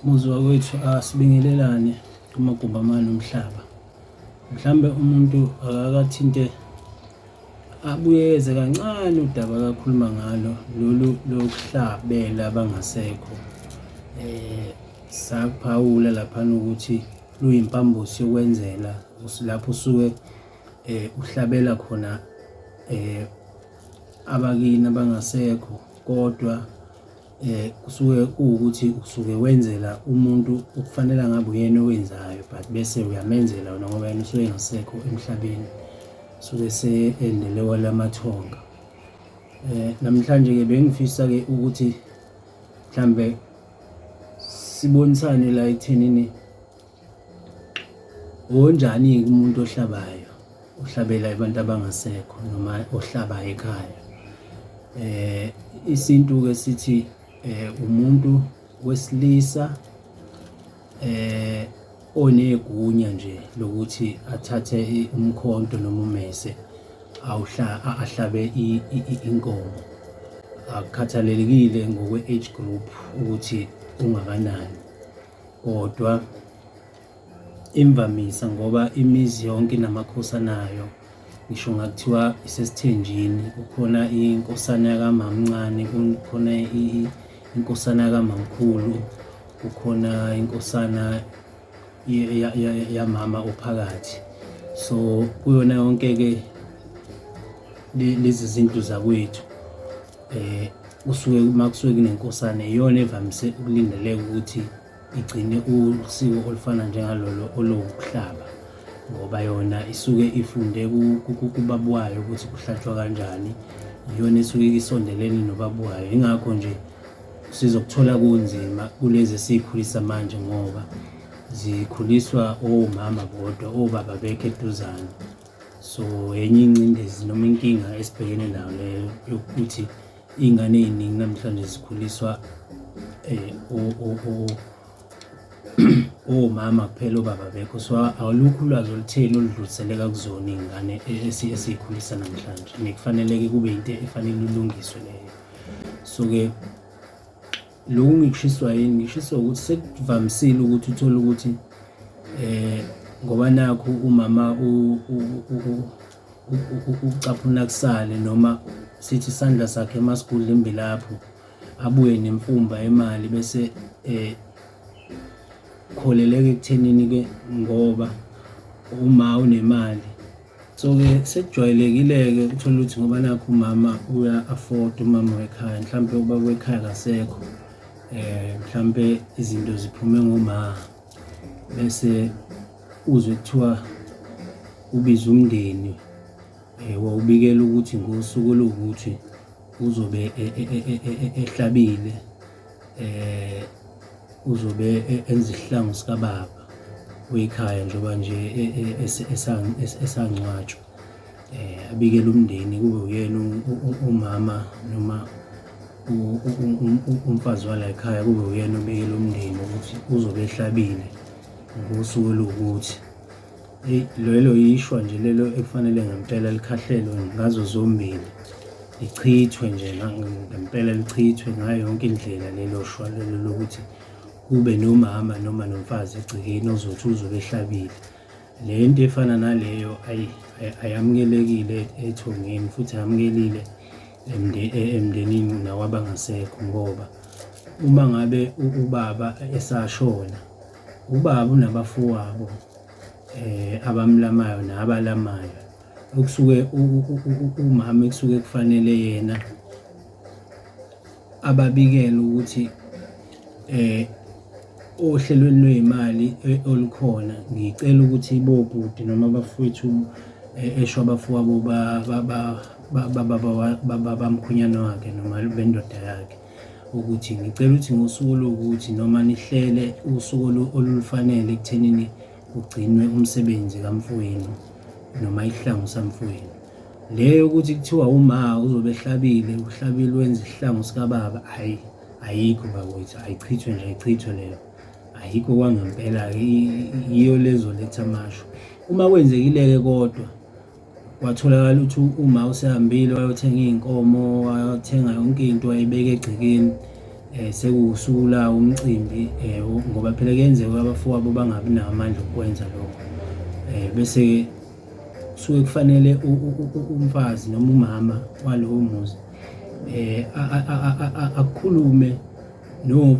Muzi wakwethu asibingelelane kumagumbi amane omhlaba. Mhlambe umuntu akakathinte abuyeze kancane udaba akakhuluma ngalo lolu lokuhlabela abangasekho. Eh saphawula lapha ukuthi luyimpambosi yokwenzela lapho usuke eh uhlabela khona eh abakini abangasekho kodwa Eh kusuke kuwukuthi usuke wenzela umuntu okufanele ngabe uyena owenzayo but bese uyamenzela wena ngoba yena usuke engasekho emhlabeni. Usuke seendele kwelamathonga. Eh namhlanje-ke bengifisa-ke ukuthi mhlambe sibonisane la ekuthenini Unjani-ke umuntu ohlabayo ohlabela abantu abangasekho noma ohlabayo ekhaya eh isintu-ke sithi eh umuntu wesilisa eh onegunya nje lokuthi athathe umkhonto noma umese awuhla ahlabe inkomo akukhathalelekile ngokwe-age group ukuthi ungakanani kodwa imvamisa ngoba imizi yonke inamakhosi anayo ngisho ngakuthiwa isesithenjini kukhona inkosana yakamamncane kukhona inkosana yakamamkhulu kukhona inkosana yamama ophakathi so kuyona yonke-ke lezi zinto zakwethu. Eh kusuke uma kusuke kunenkosana iyona evamise ukulindeleka ukuthi igcine usiko olufana njengalolo olokuhlaba ngoba yona isuke ifunde kubaba wayo ukuthi kuhlatshwa kanjani iyona esuke isondelene nobaba wayo ingakho nje sizokuthola kunzima kulezi esiyikhulisa manje ngoba zikhuliswa omama bodwa obaba bekho eduzane so enye ingcindezi noma inkinga esibhekene nayo leyo yokuthi iy'ngane ey'ningi namhlanje zikhuliswa um omama kuphela obaba bekho so awulukho ulwazi olutheni oludluliseleka kuzona iy'ngane esiyikhulisa namhlanje nekufaneleke kube yinto efanele ilungiswe leyo so-ke Lokhu ngikushiswa yini ngishiswa ukuthi sekuvamisile ukuthi uthole ukuthi eh ngoba nakho umama ucaphuna kusale noma sithi isandla sakhe emasigudla imbilapho abuye nemfumba emali bese eh kholeleke ekuthenini ke ngoba uma unemali so-ke sekujwayelekile-ke ukuthola ukuthi ngoba nakho umama uya-afford umama wekhaya mhlawumpe uba kwekhaya kasekho um eh, mhlawumpe izinto ziphume ngoma bese uzwe kuthiwa ubize umndeni um wawubikela ukuthi ngosuku oluwukuthi uzobe e, e, e, ehlabile eh uzobe e-, enza isihlangu sikababa wekhaya njengoba nje e-, e-, esangcwatshwa eh abikele umndeni kube uyena umama noma umfazi wala ekhaya kube uyena obikele umndeni ukuthi uzobe ehlabile ngosuku oluwukuthi Lelo yishwa nje lelo ekufanele ngempela likhahlelwe ngazo zombili, lichithwe nje ngempela lichithwe ngayo yonke indlela lelo shwa lelo lokuthi kube nomama noma nomfazi egcekeni ozothi uzobe ehlabile. Le nto efana naleyo ayamukelekile ethongeni futhi ayamukelile emndenini nawabangasekho ngoba uma ngabe ubaba esashona, ubaba unabafowabo. eh abamlamayo nabalamayo okusuke umama ekusuke kufanele yena ababikele ukuthi eh ohlelweni lweyimali eh, olukhona ngicela ukuthi bobhuti noma abafowethu eh, esho abafowabo baba bamkhwenyana wakhe noma bendoda yakhe ukuthi ngicela ukuthi ngosuku oluwukuthi noma nihlele usuku olulufanele ekuthenini kugcinwe umsebenzi kamfowenu noma isihlangu samfowenu le yokuthi kuthiwa uma uzobe ehlabile uhlabile wenza isihlangu sikababa hayi ayikho bakwethu ayichithwe nje ayichithwe leyo ayikho kwangempela-ke yiyo lezoletha amasho uma kwenzekile-ke kodwa Kwatholakala ukuthi uma usehambile wayothenga iy'nkomo wayothenga yonke into wayibeka egcekeni um sekuwusula umcimbi um ngoba phela kuyenzeka abafowabo bangabi nawo amandla okukwenza lokho um bese-ke kusuke kufanele umfazi noma umama walowo muzi um akhulume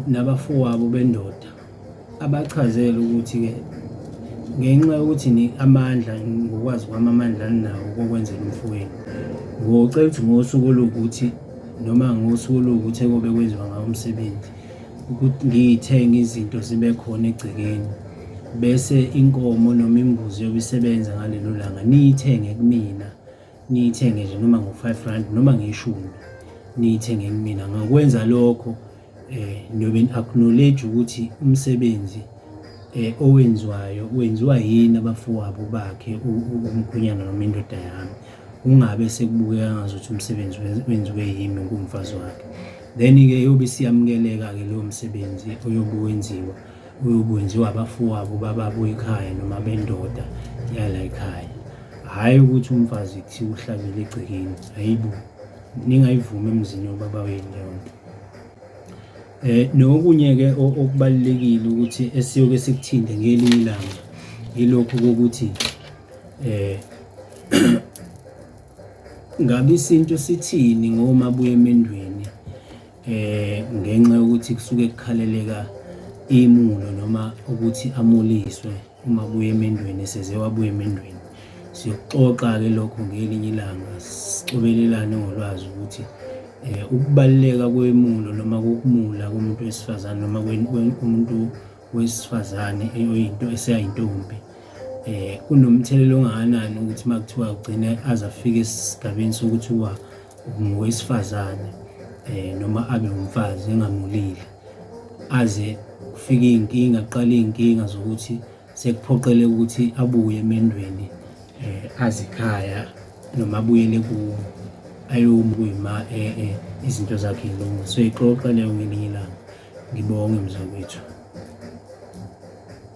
nabafowabo bendoda Abachazele ukuthi-ke ngenxa yokuthi ni amandla ngokwazi kwami amandla aninawo kokwenzela umfowenu ngocela ukuthi ngosuku oluwukuthi noma ngosuku oluwukuthi ekobe kwenziwa ngawo umsebenzi ukuthi ngiyithenge izinto zibe khona egcekeni bese inkomo noma imbuzi yobe isebenza ngalelo langa niyithenge kumina niyithenge nje noma ngo-five rand noma ngeshumi niyithenge kumina ngakwenza lokho eh niyobe ni-acknowledge ukuthi umsebenzi eh owenziwayo wenziwa yini abafowabo bakhe umkhwenyana noma indoda yami kungabe sekubukeka ngazuthi umsebenzi wenziwe yimi ngumfazi wakhe then-ke yobe isiyamukeleka-ke lowo msebenzi oyobe wenziwa uyokwenziwa abafowabo bababo ekhaya noma bendoda yala ekhaya hhayi ukuthi umfazi kuthiwa uhlabele egcekeni hayibo ningayivumi emzini wobaba wenu leyo nto eh nokunye-ke okubalulekile ukuthi esiyoke sikuthinte ngelinye ilanga yilokhu kokuthi eh ngabe isintu sithini ngomabuya emendweni eh ngenxa yokuthi kusuke kukhaleleka imulo noma ukuthi amuliswe uma buye emendweni eseze wabuye emendweni siyoxoxa-ke lokho ngelinye ilanga sicobelelane ngolwazi ukuthi um ukubaluleka kwemulo noma kokumula komuntu wesifazane noma komuntu wesifazane oyinto eseyayintombi eh kunomthelela ongakanani ukuthi makuthiwa ugcine azafika esigabeni sokuthi uba ngowesifazane eh noma abe umfazi engamulile aze kufike izinkinga kuqale izinkinga zokuthi sekuphoqele ukuthi abuye emendweni eh, azikhaya noma abuyele kuwo ayomi kuyima eh, eh, izinto zakhe ilunga so ixoxa leyo ngelinye ilanga ngibonge mzakwethu